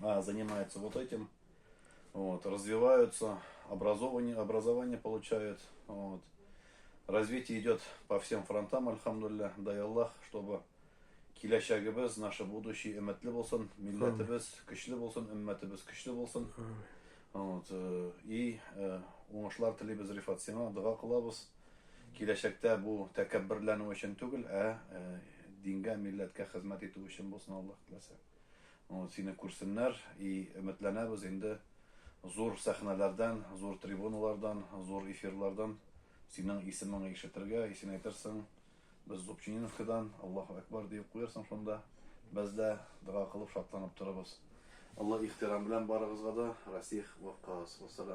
а занимаются вот этим, вот, развиваются, образование, образование получают. Вот. Развитие идет по всем фронтам, альхамдулля, дай Аллах, чтобы киләчәгебез, наше будущее өмәтле булсын, милләтебез көчле булсын, өммәтебез көчле булсын. Вот, э, и э, уңышлар телибез Рифат сиңа, дога кылабыз. Киләчәктә бу тәкәбберләнү өчен түгел, ә э, дингә, милләткә хезмәт итү өчен булсын Аллаһ теләсә. Ну, сине күрсеннәр и өметләнәбез инде зур сәхнәләрдән, зур трибуналардан, зур эфирлардан синең исемеңне ишетергә, и син әйтерсең, без Зубчининскидан Аллаһу Әкбар диеп куярсың шунда. Без дә дога кылып шатланып торабыз. Олы ихтирам белән барыгызга да, Расих Ваккас. Вассалам.